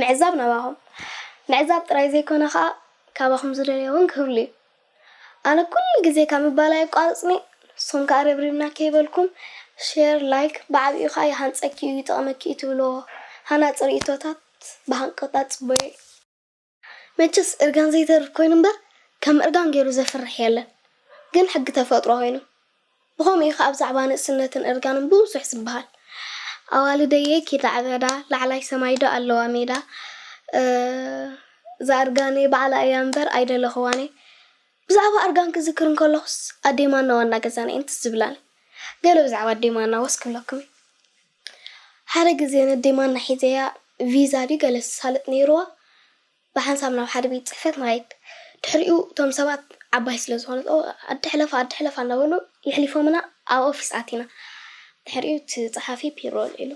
ምዕዛብ ናባኹም ምዕዛብ ጥራይ ዘይኮነ ከኣ ካባኹም ዝደልዮ ውን ክህሉ እዩ ኣነ ኩሉ ግዜ ካብ ምባል ኣየቋርጽን'የ ንስኹም ከኣ ረብሪብና ከይበልኩም ሼር ላይክ ብዓቢኡ ከኣ ይሃንጸኪ'ዩ ይጠቕመኪ'ዩ ትብልዎ ሃናጺ ርእይቶታት ብሃንቀውታ ትጽበዮ እየ። መቸስ እርጋን ዘይተርፍ ኮይኑ እምበር ከም እርጋን ጌሩ ዘፍርሕ የለን ግን ሕጊ ተፈጥሮ ኮይኑ ብኸምኡ እዩ ከኣ ብዛዕባ ንእስነትን እርጋንን ብዙሕ ዝበሃል ኣዋልደየ ኪዳ ዕበዳ ላዕላይ ሰማይ ዶ ኣለዋ ሜዳ እዛ እርጋነይ ባዕላ እያ እምበር ኣይደለኽዋንየ ብዛዕባ እርጋን ክዝክር እንከለኹስ ኣዴማና ዋና ገዛና እየን ትዝ ዝብላኒ ገለ ብዛዕባ ኣዴማና ወስ ክብለኩም እየ ሓደ ግዜ ነደይ ማና ሒዘያ ቪዛ ድዩ ገለ ዝሳለጥ ነይሩዋ ብሓንሳብ ናብ ሓደ ቤት ጽሕፈት ንኸይድ። ድሕሪኡ እቶም ሰባት ዓባይ ስለ ዝኾነት ኦው ኣደ ሕለፋ ኣደ ሕለፋ እንዳበሉ የሕሊፎምና ኣብ ኦፊስ ኣቲና። ድሕሪኡ እቲ ጸሓፊ ፒሮ ኣልዒሉ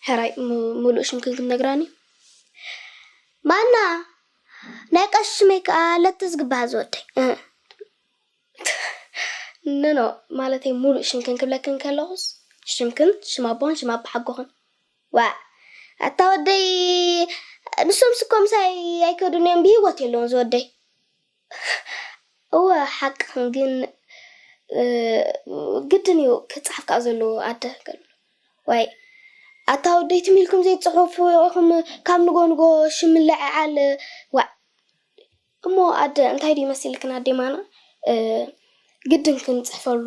ሕራይ ምሉእ ሽምክን ክንነግራኒ ማና ናይ ቀሺ ሽመይ ከኣ ለተስ ግብሃ ዝወደይ እህ ኖኖ ማለተይ ሙሉእ ሽምክን ክብለክን ከለኹስ ሽምክን ሽም ኣቦኽን ሽም ኣባሓጎኽን ዋእ ኣታ ወደይ ንሶም ስኮ ምሳይ ኣይከዱን እዮም ብሂወት የለውን ዝወደይ እወ ሓቅኽን ግን ግድን እዩ ክፅሓፍ ከዓ ዘለዎ ኣደ ገሉ ዋይ ኣታ ወደይ ትም ኢልኩም ዘይትፅሑፉ ኢኹም ካብ ንጎ ንጎ ሽም ምልዕዓል ዋእ እሞ ኣደ እንታይ ድዩ መሲልክን ኣዴ ማና ግድን ክንጽሕፈሉ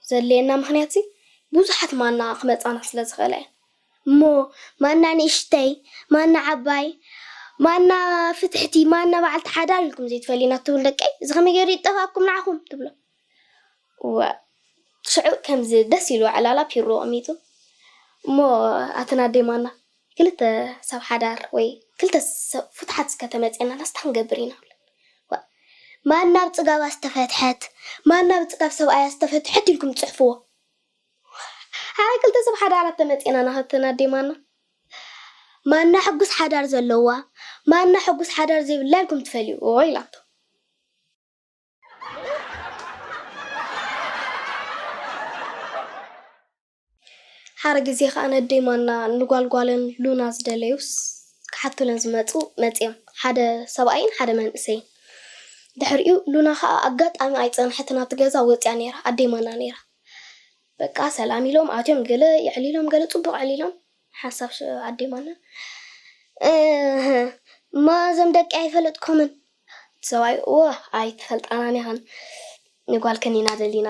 ዘድልየና ምኽንያትሲ ብዙሓት ማና ክመጻና ስለ ዝኽእላ እየን። እሞ ማና ንእሽተይ፣ ማና ዓባይ፣ ማና ፍትሕቲ፣ ማና በዓልቲ ሓዳር ኢልኩም ዘይትፈልዩ ኢና ትብሉ ደቀይ፣ እዚ ከመይ ገይሩ ይጠፍኣኩም ንዓኹም? ትብሎም። እዋእ ሽዑ ከምዚ ደስ ኢልዎ ዕላላ ፒሮ ኣቐሚጡ እሞ ኣትን ኣደይ ማና ክልተ ሰብ ሓዳር ወይ ክልተ ሰብ ፍቱሓት እስከ ተመጺኤናላስ ታይ ክንገብር ኢና እብለን። እዋእ ማና ብጽጋባ ዝተፈትሐት ማና ብጽጋብ ሰብኣያ ዝተፈትሐት ኢልኩም ጽሕፍዎ። ሓራይ ክልተ ሰብ ሓዳራት ተመጺኤናና ኣትን ኣደይ ማና ማና ሕጉስ ሓዳር ዘለዋ ማና ሕጉስ ሓዳር ዘይብላ ኢልኩም ትፈልይዎ ኢላቶ። ሓረ ግዜ ከኣ ነደይ ማና ንጓል ጓለን ሉና ዝደለዩስ ክሓቱለን ዝመጹ መጺኦም ሓደ ሰብኣይን ሓደ መንእሰይን ድሕሪኡ ሉና ከኣ ኣጋጣሚ ኣይጸንሐትን ኣብቲ ገዛ ወጺኣ ነይራ ኣደይ ማና ነይራ በቃ ሰላም ኢሎም ኣትዮም ገለ የዕሊሎም ገለ ጽቡቕ ዕሊሎም ሓሳብ ሽዑ ዓዲማና እህ እማ እዞም ደቂ ኣይፈለጥኩምን ሰብኣይ እወ ኣይትፈልጣናን ኢኽን ንጓልክን ኢና ደሊና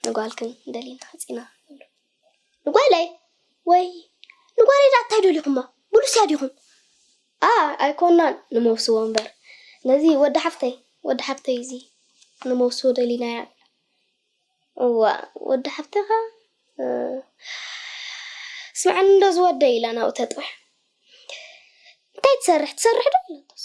ንጓልክን ደሊና ሓፂና ንጓለይ ወይ ንጓለይ ዳ እንታይ ደሊኹማ ብሉስያ ዲኹም ኣ ኣይኮናን ንመውስዎ እምበር ነዚ ወዲ ሓፍተይ ወዲ ሓፍተይ እዚ ንመውስዎ ደሊናያ እዋእ ወዲ ሓፍተኻ ስምዓኒ እንዶ ዝወደይ ኢላ ናብኡ ተጥውሕ እንታይ ትሰርሕ ትሰርሕ ዶ ኢላቶስ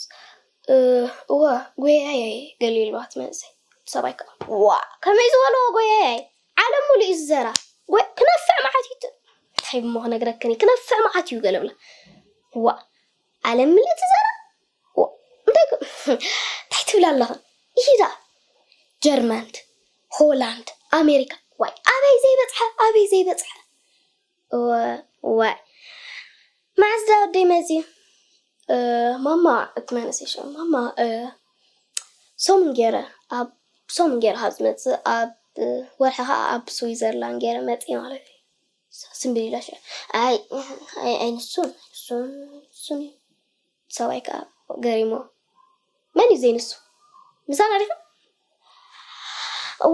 እወ ጎያያይ ገሊ ኢልዋ ትመጽእ ሰብኣይ ከዓ ዋእ ከመይ ዝበልዎ ጎያያይ ዓለም ሙሉ እዩ ዝዘራ ክነፍዕ መዓት እዩ እንታይ እሞ ክነግረክኒ ክነፍዕ መዓት እዩ ገለብላ ዋእ ዓለም ምልእቲ ዘራ እንታይ ትብል ኣለኻ ኢሂ'ዛ ጀርመንት ሆላንድ ኣሜሪካ ዋይ ኣበይ ዘይበጽሐ ኣበይ ዘይበጽሐ ዋይ መዓስ ዳ ወደይ መጺኡ ማማ እቲ መንእሰይ ሽዑ ማማ ሰሙን ገይረ ኣብ ሰሙን ገይረ ካብ ዝመጽእ ኣብ ወርሒ ከዓ ኣብ ስዊዘርላንድ ገይረ መጽእ ማለት እዩ ስምብል ኢላ ሽዑ ኣይ ኣይ ንሱን ንሱን ንሱን እዩ ሰብኣይ ከኣ ገሪምዎ መን እዩ ዘይንሱ ምሳና ዲኻ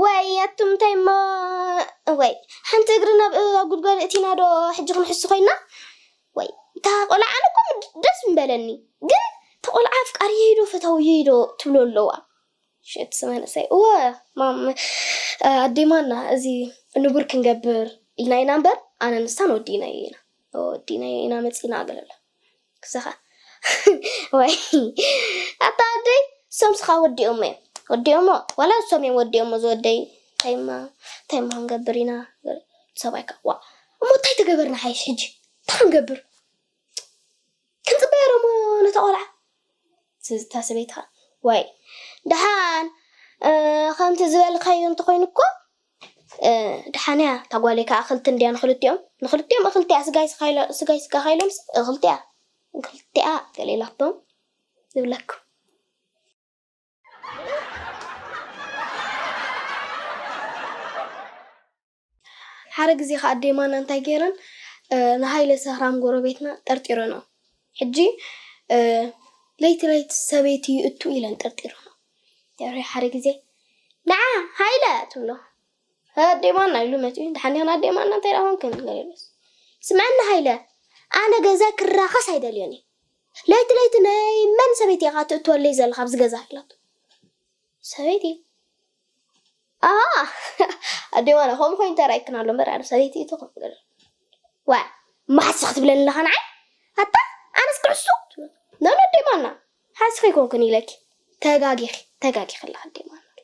ወይ ኣቱም እንታይ እሞ ወይ ሓንቲ እግሪ ናብ ኣብ ጉድጓድ እእቲና ዶ ሕጂ ክንሕሱ ኮይና ወይ እታ ቆልዓ ኣነ እኮ ደስ ምበለኒ ግን እታ ቆልዓ ኣፍቃሪየይ ዶ ፈታውየይ ዶ ትብሎ ኣለዋ ሽት መንእሰይ እወ ማም ኣዴማና እዚ ንቡር ክንገብር ኢልና ኢና እምበር ኣነ ንሳን ወዲና ኢና ወዲና ኢና መፂና ገለላ ክሳኻ ወይ ኣታ ወደይ እሶም ስኻ ወዲኦሞ እዮም ወዲኦሞ ዋላ እሶም እዮም ወዲኦሞ ዝወደይ ታይማ ታይማ ክንገብር ኢና ሰብኣይካ ዋ እሞ እንታይ ተገበርና ሓይሽ ሕጂ እንታይ ክንገብር ክንፅበያ ዶሞ ነታ ቆልዓ ስዝታ ሰበይትኻ ወይ ደሓን ከምቲ ዝበልካዮ እንተኮይኑ እኮ ደሓን እያ እታ ጓለይ ከኣ እኽልቲ እንድያ ንኽልቲኦም ንኽልቲኦም እኽልቲ እያ ስጋይ ስጋይ ስጋኻ ኢሎምስ እኽልቲ እያ እኽልቲ እያ ገለ ኢላቶም ይብለኩም ሓደ ግዜ ከዓ ኣዴማና እንታይ ገይረን ንሃይለ ሰህራም ጎረቤትና ጠርጢረኖ ሕጂ ለይቲ ለይቲ ሰበይቲ ይእቱ ኢለን ጠርጢረኖ ድሕሪ ሓደ ግዜ ንዓ ሃይለ ትብሎ። ኣዴ ማና ኢሉ መጺኡ ደሓን ዲኽን ኣዴ ማና እንታይ ደኣ ኮንክን ገለ ኢሉስ ስምዐኒ ሃይለ ኣነ ገዛይ ክራኸስ ኣይደልዮን እየ ለይቲ ለይቲ ናይ መን ሰበይቲ ኢኻ ትእትወለይ ዘለኻ ኣብዚ ገዛ ኢላቶ ሰበይቲ ኣሃ ኣዴ ማና ከምኡ ኮይኑ ተራእይክን ኣሎ እምበር ኣነ ሰበይቲ እቶ ከም ገለ ዋ ማሕሲ ክትብለኒ ኣለኻ ንዓይ ኣታ ኣነስ ክዕሱ ትብሎ ኖ ኖ ኣዴ ማና ሓንስኺ ኣይኮንኩን ኢለኪ ተጋጊኺ ተጋጊኺ ኣለኺ ዲማ ኣናለ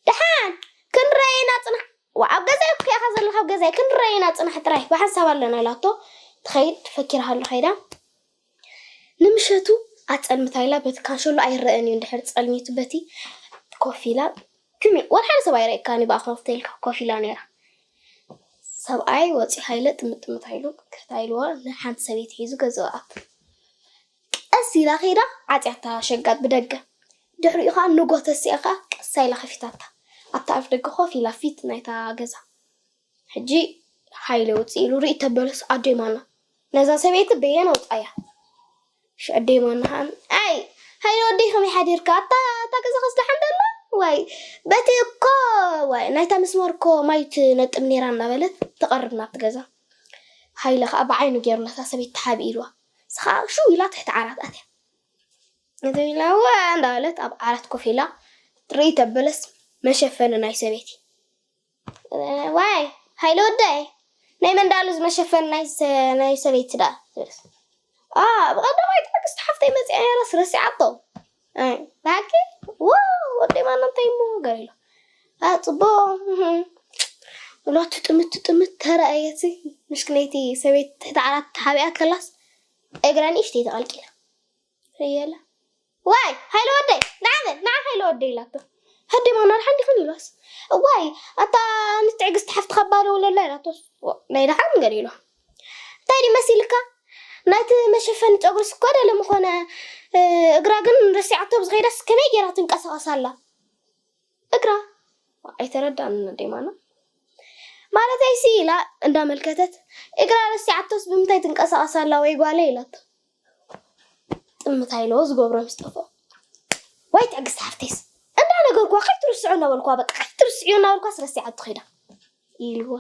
ደሓን ክንረኣይ ኢና ጽናሕ ዋ ኣብ ገዛይ እኮ ኢኻ ዘለኻ ኣብ ገዛይ ክንረኣይ ኢና ጽናሕ ጥራይ ብሓንሳብ ኣለና ኢላቶ ትኸይድ ፈኪራ ሃሎ ከይዳ ንምሸቱ ኣጸልምታ ኢላ በቲ ካንሸሎ ኣይረኣን እዩ እንድሕር ጸልሚቱ በቲ ኮፍ ኢላ ትሚ ወርሓደ ሰብ ኣይረእካኒ ብኣ ኮፍ ተልካ ኮፍ ኢላ ነይራ ሰብኣይ ወፂ ሃይለ ጥምጥምታ ኢሉ ከታ ኢልዋ ንሓንቲ ሰበይቲ ሒዙ ገዛኡ ኣቱ ቀስ ኢላ ከይዳ ዓጽያታ ሸጋጥ ብደገ። ድሕሪኡ ከኣ ንግሆ ተሲኣ ከኣ ቀስ ኢላ ከፊታታ። ኣብቲ ኣፍደገ ኮፍ ኢላ ፊት ናይታ ገዛ። ሕጂ ሃይለ ውጽእ ኢሉ ርእይ ተበለስ ኣደይ ማና ነዛ ሰበይቲ በየን ኣውጻያ። እሺ ኣደይ ማና ከኣ ኣይ ሃይለ ወደይ ከመይ ሓዲርካ ኣታ እታ ገዛ ከስ ደሓን ደላ ዋይ በቲ እኮ ዋይ ናይታ መስመር እኮ ማይ ትነጥብ ነይራ እናበለት ትቐርብ ናብቲ ገዛ። ሃይለ ከኣ ብዓይኑ ገይሩ ነታ ሰበይቲ ተሓቢእልዋ። ንስኻ ሽው ኢላ ትሕቲ ዓራት ኣትያ ነቲ ኢላ እወ እንዳበለት ኣብ ዓራት ኮፍ ኢላ ትርእይ ተበለስ መሸፈኒ ናይ ሰበይቲ ዋይ ሃይለ ወደይ ናይ መንዳሉ ዝመሸፈኒ ናይ ናይ ሰበይቲ ደኣ ትብለስ ኣ ብቐዳማይ ትዕግስቲ ሓፍተይ መጽያ ነይራስ ረሲዓቶ ብሓቂ ዋው ወደይ ማና እንታይ እሞ ገር ኢሎ ኣ ፅቡቅ ሎቱ ጥምት ጥምት ተረኣየት ምሽክነይቲ ሰበይቲ ትሕቲ ዓራት ተሓቢኣ ከላስ እግራ ንእሽተይ ተቐልቂላ እየላ ዋይ ሃይለ ወደይ ንዓመ ንዓ ሃይለ ወደይ ኢላቶ ሃደ ማና ድሓን ዲኽን ኢሏስ ዋይ ኣታ ንትዕግስቲ ሓፍትኻ ባዶ ውለላ ኢላቶስ ናይ ድሓን ገር ኢሎ እንታይ ድዩ መሲልካ ናይቲ መሸፈኒ ጨጉሪስ እኳ ደለ ምኾነ እግራ ግን ረሲዓቶ ኣብ ዝኸይዳስ ከመይ ጌራ ትንቀሳቐስ ኣላ እግራ ኣይተረዳእን ኣዴማና ማለተይሲ ኢላ እንዳመልከተት እግራ ረሲዓቶስ ብምንታይ ትንቀሳቐስ ኣላ ወይ ጓለይ ኢላቶ ጥምታ ኢለዎ ዝገብሮ ምስ ጠፍኦ ዋይ ትዕግስቲ ሓፍተይስ እንዳነገርኩዋ ከይትርስዑ እናበልኩዋ በቃ ከይትርስዑ እናበልኩዋስ ረሲዓቶ ኸይዳ ኢልዋ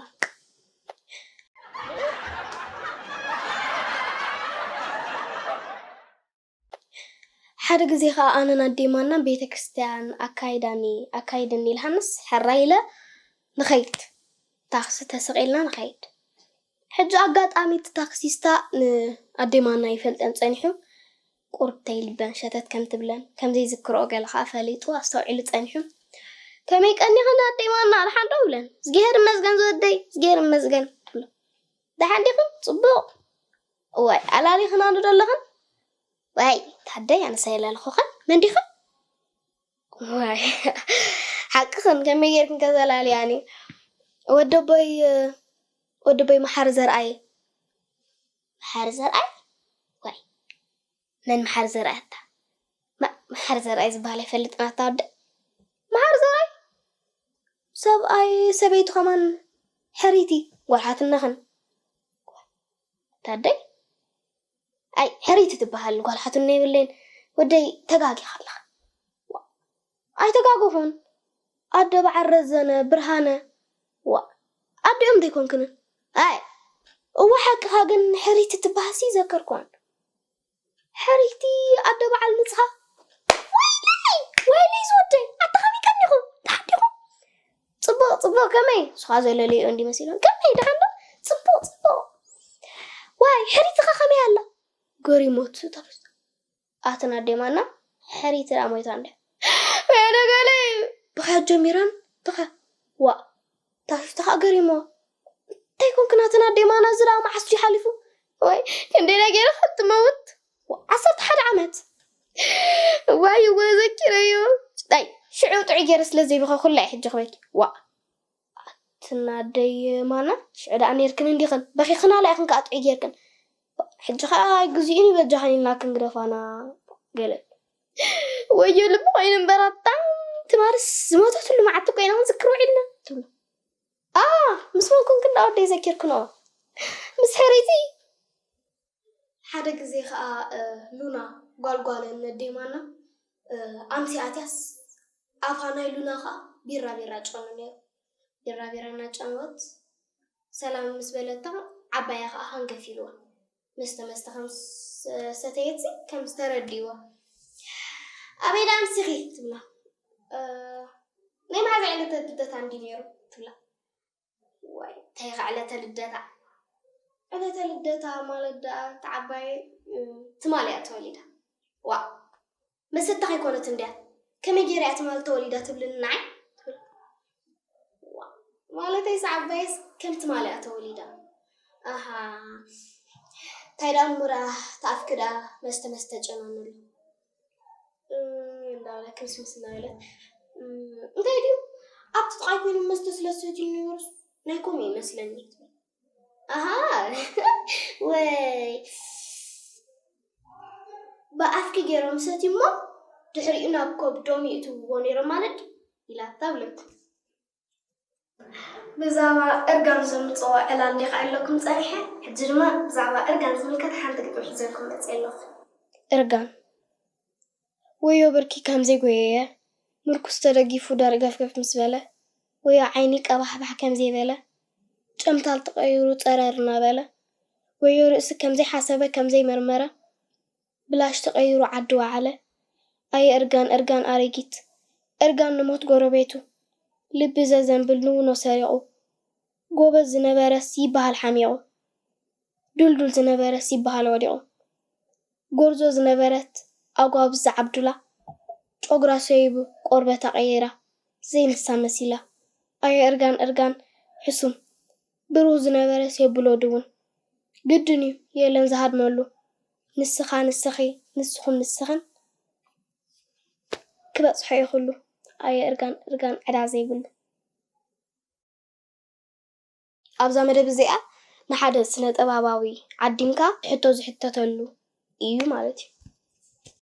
ሓደ ግዜ ከዓ ኣነን ኣዴማናን ቤተ ክርስቲያን ኣካይዳኒ ኣካይድኒ ኢልሃንስ ሕራይ ኢለ ንኸይድ ታክሲ ተሰቂልና ንኸይድ ሕጂ ኣጋጣሚ እቲ ታክሲስታ ን ኣደይ ማና ይፈልጠን ጸኒሑ ቁርብተይ ልበን ሸተት ከም ትብለን ከም ዘይዝክርኦ ገለ ከኣ ፈሊጡ ኣስተውዒሉ ጸኒሑ ከመይ ቀኒክን ኣደይ ማና ድሓን ዶ ይብለን እዝግሄር ይመስገን ዝወደይ እዝግሄር ይመስገን ትብሎ ድሓን ዲክን ጽቡቅ እዋይ ኣላሊክናኒ ዶ ኣለክን ዋይ ታደይ ኣነስ ኣይላለኩክን መን ዲክን ዋይ ሓቅኽን ከመይ ጌርክን ከ ዘላልያኒ ወደቦይ ወደቦይ መሓሪ ዘርኣይ መሓሪ ዘርኣይ ዋይ መን መሓሪ ዘርኣይ ኣታ መሓሪ ዘርኣይ ዝበሃል ኣይፈልጥን ኣታ ወደ መሓሪ ዘርኣይ ሰብኣይ ሰበይቱ ከማን ሕሪቲ ጓልሓትነኽን ታደይ ኣይ ሕርይቲ ትብሃል ጓል ሓትኖ የብለይን ወደይ ተጋጊኻ ኣለኻ ዋእ ኣይተጋገኹን ኣደ በዓል ረዘነ ብርሃነ ዋእ ኣዲኦም ዶ ኣይኮንክንን ኣይ እወ ሓቅኻ ግን ሕርይቲ ትብሃል ሲ ዘከርኩዋን ሕርይቲ ኣደ በዓል ንጽሃ ወይለይ ወይለይ ዝወደይ ኣታ ከመይ ቀኒኹም ደሓን ዲኹም ጽቡቕ ጽቡቕ ከመይ ንስኻ ዘለልዮ እንዲ መሲሉን ከመይ ደሓን ዶ ጽቡቕ ጽቡቕ ዋይ ሕሪትኻ ከመይ ኣላ ገሪሞት ተበስታ ኣትን ኣዴ ማና ሕሪት ደኣ ሞይታ እንደ ደገለይ ብኸያት ጀሚረን ተኸ ዋእ ታፊፍታኻ ገሪሞ እንታይ ኮንክናትና ዴማና ዝራ መዓስ ሓሊፉ ወይ ክንደይ ነገረ ክትመውት ዓሰርተ ሓደ ዓመት እዋይ እወ ዘኪረዮ ዳይ ሽዑ ጥዑይ ገይረ ስለ ዘይበኸኩላ እየ ሕጂ ክበኪ ዋእ ኣትና ኣደይ ማና ሽዑ ደኣ ነይርክን እንዲኽን በኺኽናላ ኢኽን ከዓ ጥዑይ ገይርክን ሕጂ ከዓ ኣይግዜኡን እዩ በጃኽን ኢልና ክንግደፋና ገለ ወዮ ልቢ ኮይኑ እምበር ኣታ ትማርስ ዝሞተትሉ መዓልቲ እኮ ኢና ክንዝክር ውዒልና ትብሎ ኣ ምስ መን ኮንክን ደኣ ወደይ ዘኪርክንኦ ምስ ሕርይቲ ሓደ ግዜ ከኣ ሉና ጓል ጓለን ነዴ ማና ኣምሲ ኣትያስ ኣፋ ናይ ሉና ከኣ ቢራቢራ ጨኑ ነይሩ። ቢራቢራ እናጨነወት ሰላም ምስ በለታ ዓባያ ከኣ ሃንገፍ ኢልዋ። መስተ መስተ ከም ዝሰተየትሲ ከም ዝተረድእዋ ኣበይ ደኣ ኣምሲኺ ትብላ። ናይ መዓዝ ዕለት ልደት ኣንድዩ ነይሩ ትብላ። ዋይ እንታይ ኢኻ ዕለተ ልደታ ዕለተ ልደታ ማለት ደኣ እቲ ዓባየይ ትማል እያ ተወሊዳ ዋእ መሰታ ከይኮነት እንድያ ከመይ ገይረ እያ ትማል ተወሊዳ ትብልኒ ንዓይ ትብል ዋእ ማለተይስ ዓባየስ ከም ትማል እያ ተወሊዳ ኣሃ እንታይ ደኣ ምራ ተኣፍኪ ደኣ መስተ መስተ ጨናንሉ እንዳበለ ክርስምስ እናበለ እንታይ ድዩ ኣብቲ ጥቃይ ኮይኑ መስተ ስለ ዝሰትዩ ዝነበሩስ ናይ ኮም እዩ መስለኒ ትብል ኣሃ ወይ ብኣፍኪ ገይሮም ሰትዩሞ ድሕሪኡ ናብ ከብዶም ይእትውዎ ነይሮም ማለት ኢላታ ብለቱ ብዛዕባ እርጋን ዘምጽኦ ዕላል ሊኻዐለኩም ጸኒሐ ሕጂ ድማ ብዛዕባ እርጋን ዝምልከት ሓንቲ ግጥሚ ሒዘልኩም መጺኤ ኣለኹ። እርጋን ወዮ ብርኪ ከም ዘይጎየየ ምርኩስ ተደጊፉ ደርገፍገፍ ምስ በለ ወዮ ዓይኒ ቀባሕባሕ ከም ዘይበለ ጨምታል ተቐይሩ ጸረር እናበለ ወዮ ርእሲ ከም ዘይሓሰበ ከም ዘይመርመረ ብላሽ ተቀይሩ ዓዲ ወዓለ ኣየ እርጋን እርጋን ኣረጊት እርጋን ንሞት ጎረቤቱ ልቢ ዘዘንብል ንውኖ ሰሪቁ ጎበዝ ዝነበረስ ይበሃል ሓሚቁ ዱልዱል ዝነበረስ ይበሃል ወዲቁ ጎርዞ ዝነበረት ኣጓብዝ ዝዓብዱላ ጮግራ ሰይቡ ቆርበታ ቀይራ ዘይንሳ መሲላ ኣየ እርጋን እርጋን ሕሱም ብሩህ ዝነበረስ የብሎ ድውን ግድን እዩ የለን ዝሃድመሉ ንስኻ ንስኺ ንስኹም ንስኽን ክበጽሖ እዩ ኩሉ ኣየ እርጋን እርጋን ዕዳ ዘይብሉ። ኣብዛ መደብ እዚኣ ንሓደ ስነጥበባዊ ዓዲምካ ሕቶ ዝሕተተሉ ኢዩ ማለት ኢዩ።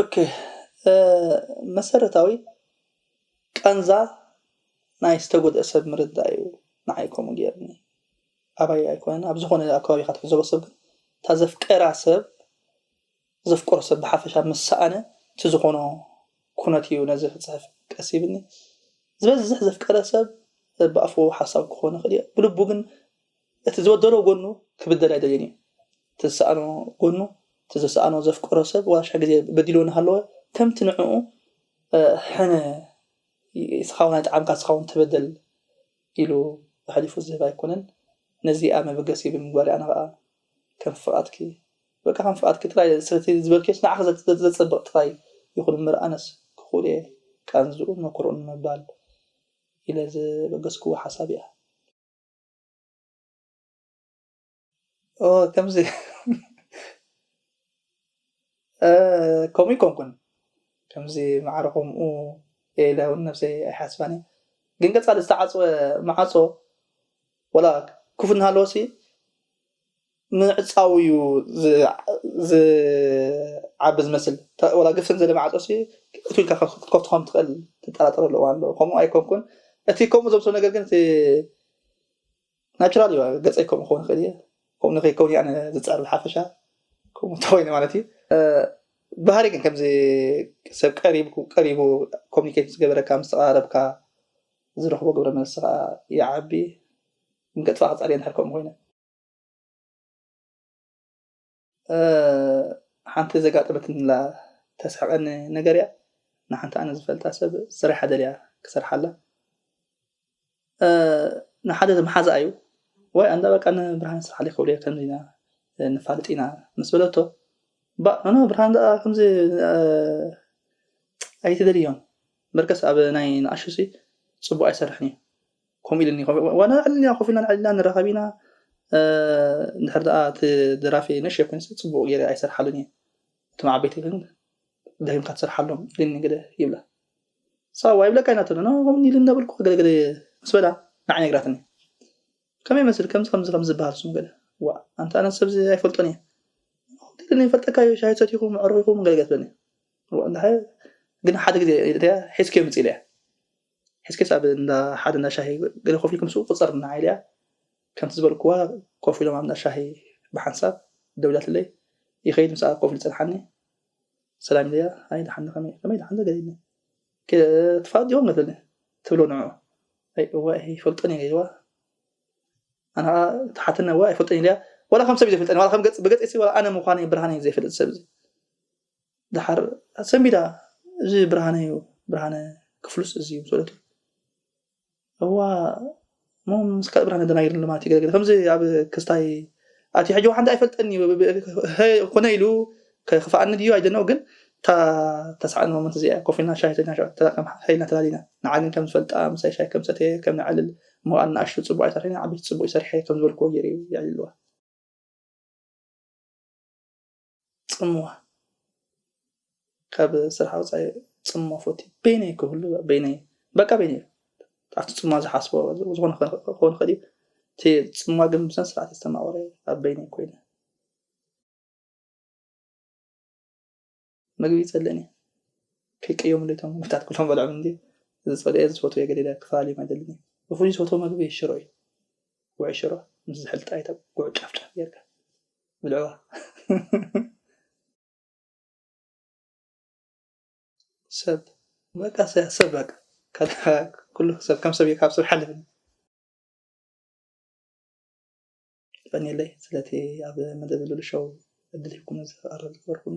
ኦኬ መሰረታዊ ቃንዛ ናይ ዝተጎድኣ ሰብ ምርዳእ እዩ ንዓይ ከምኡ ገይርኒ ኣባይ ኣይኮነን ኣብ ዝኾነ ኣብ ከባቢካ ትዕዘቦ ሰብ ግን እታ ዘፍቀራ ሰብ ዘፍቀሮ ሰብ ብሓፈሻ ምስ ሰኣነ እቲ ዝኾኖ ኩነት እዩ ነዚ ክፅሕፍ ቀስ ይብኒ ዝበዝሕ ዘፍቀረ ሰብ ብኣፉ ሓሳብ ክኾን ይኽእል እዩ ብልቡ ግን እቲ ዝበደሎ ጎኑ ክብደል ኣይደልይን እዩ እቲ ዝሰኣኖ ጎኑ እቲ ዘሰኣኖ ዘፍቀሮ ሰብ ዋሻ ግዜ በዲልዎ እናሃለወ ከምቲ ንዕኡ ሕነ ስኻውን ኣይጠዓምካ ስኻውን ተበደል ኢሉ ኣሕሊፉ ዝህብ ኣይኮነን ነዚኣ መበገሲ ብምግባር ኣነ ከዓ ከም ፍቓድኪ በቃ ከም ፍቓድኪ ጥራይ ስለቲ ዝበልክዮስ ንዓኺ ዘፀብቕ ጥራይ ይኹን እምበር ኣነስ ክኽእል እየ ቃንዝኡን መኩርኡን ንምባል ኢለ ዝበገስክዎ ሓሳብ እያ ከምዚ ከምኡ ይኮንኩን ከምዚ ማዕረ ከምኡ ኢለ እውን ነብሰይ ኣይሓስባን እየ ግን ቀፃሊ ዝተዓፅወ ማዓፆ ወላ ክፉት እናሃለወሲ ምዕጻው እዩ ዝዓቢ ዝመስል ወላ ግፍን ዘለ ማዕጾ ሲ እትው ኢልካ ክትከፍቶ ከም ትኽእል ትጠራጠረሉ እዋን ኣሎ ከምኡ ኣይኮንኩን እቲ ከምኡ ዘምስሎ ነገር ግን እቲ ናቹራል እዩ ገጸይ ከምኡ ክኸውን ይኽእል እየ ከምኡ ንከይከውን እየ ዝጸዕር ብሓፈሻ ከምኡ እንተኮይነ ማለት እዩ ባህሪ ግን ከምዚ ሰብ ቀሪቡ ኮሚኒኬት ዝገበረካ ምስ ተቀራረብካ ዝረኽቦ ግብረ መልሲ ከዓ ይዓቢ ንገጥፋ ክጻር እየ እንድሕር ከምኡ ኮይነ ሓንቲ ዘጋጠመትኒላ ተስሕቐኒ ነገር እያ። ንሓንቲ ኣነ ዝፈልጣ ሰብ ስራሕ እያ ደልያ ክሰርሓላ ንሓደ መሓዛኣ እዩ ወይ ኣንዳ በቃ ንብርሃን ስርሓለይ ክብለዮ ከምዚ ኢና ንፋልጥ ኢና ምስ በለቶ ባእ ኖ ብርሃን ደኣ ከምዚ ኣይትደልዮን በርከስ ኣብ ናይ ንኣሹሲ ጽቡቅ ኣይሰርሕን እዩ ከምኡ ኢልኒ ዋላ ዕልና ኮፍ ኢልና ዕልና ንራኸብ ኢና እንድሕር ደኣ እቲ ደራፊ ንእሽተይ ኮይኑ ፅቡቅ ገይረ ኣይሰርሓሉን እየ እቶም ዓበይቲ ግን ደጊምካ ትሰርሓሎም ኢልኒ ገለ ይብላ ሳዋ ይብለካ ኢና ተብለ ከምኡ ኢሉ እንዳበልኩ ገለ ገለ ምስ በላ ንዓይ ነግራትኒ ከመይ መስል ከምዚ ከምዚ ከም ዝበሃል ስሙ ገለ ዋ ኣንተ ኣነ ሰብዚ ኣይፈልጦን እየ ኢልኒ ይፈልጠካ እዩ ሻሂ ሰቲኹም ምዕሩኽ ኢኹም ገለ ገለ ትብለኒ ግን ሓደ ግዜ ሒዝከዮ ምፅ ኢለ እያ ሕዝቅያስ ኣብ እንዳ ሓደ እንዳ ሻሂ ገለ ኮፍ ኢልኩም ስኡ ቁጸር እና ኢለያ ከምቲ ዝበልኩዋ ኮፍ ኢሎም ኣብ እንዳ ሻሂ ብሓንሳብ ደው ኢላትለይ ይኸይድ ምስኣ ኮፍ ኢሉ ጸንሓኒ ሰላም ኢለያ ኣይ ደሓን ዶ ከመይ ከመይ ደሓን ዶ ገለ ኢልኒ ትፋለጥ ዲኹም ገትለኒ ትብሎ ንዑ ኣይ እወ ኣይፈልጦን እየ ኢልዋ ኣነ ከዓ ተሓተና እወ ኣይፈልጦን ኢለያ ዋላ ከም ሰብ እዩ ዘይፈልጠኒ ዋላ ከም ገጽ ብገጽ ዋላ ኣነ ምዃነይ ብርሃነይ ዘይፈልጥ ሰብ እዚ ደሓር ሰንቢዳ እዚ ብርሃነ እዩ ብርሃነ ክፍሉስ እዚ እዩ ሰለቱ እዋ እሞ ምስ ካልእ ብርሃነ ደናጊር ልማት እዩ ገለ ከምዚ ኣብ ክስታይ ኣቲ ሕጂ ሓንቲ ኣይፈልጠኒ ኮነ ኢሉ ከክፋኣኒ ድዩ ኣይደነው ግን እታ ተሳዕን ሞመንት እዚኣ ኮፍ ኢልና ሻሂ ሰይድና ሸዑ ተጠቀም ሓይልና ተላሊና ንዓ ግን ከም ዝፈልጣ ምሳይ ሻሂ ከም ሰተየ ከም ነዕልል እሞ ኣናእሽቱ ፅቡቅ ኣይሰርሐን ዓበይቲ ፅቡቅ ይሰርሐ ከም ዝበልክዎ ገይረ የዕልልዋ ጽምዋ ካብ ስራሕ ወጻኢ ጽምዋ ፈትዩ በይነይ ክህሉ በይነይ በቃ በይነይ ኣብቲ ጽምዋ ዝሓስቦ ዝኾነ ክኸውን ይኽእል እዩ እቲ ጽምዋ ግን ብስነ ስርዓት ዝተማቕረ ኣብ በይነይ ኮይነ ምግቢ ይጸልእን እየ ከይቀየሙ ለይቶም ምግብታት ኩሎም በልዖም እንዲ ዝጸልኦ ዝፈትዎ ገሊለ ክፈላለዮም ኣይደልን እዩ ብፍሉይ ዝፈትዎ ምግቢ ሽሮ እዩ ውዒ ሽሮ ምስ ዝሕልጣ ይተብ ጉዕ ጫፍጫፍ ጌርካ ብልዕዋ ሰብ በቃ ሰብ በቃ ኩሉ ሰብ ከም ሰብ ካብ ሰብ ሓልፍ ጠኒለይ ስለቲ ኣብ መደብ ልሉ ሸው እድል ሂብኩም ዝቀረብ ዝበርኩኒ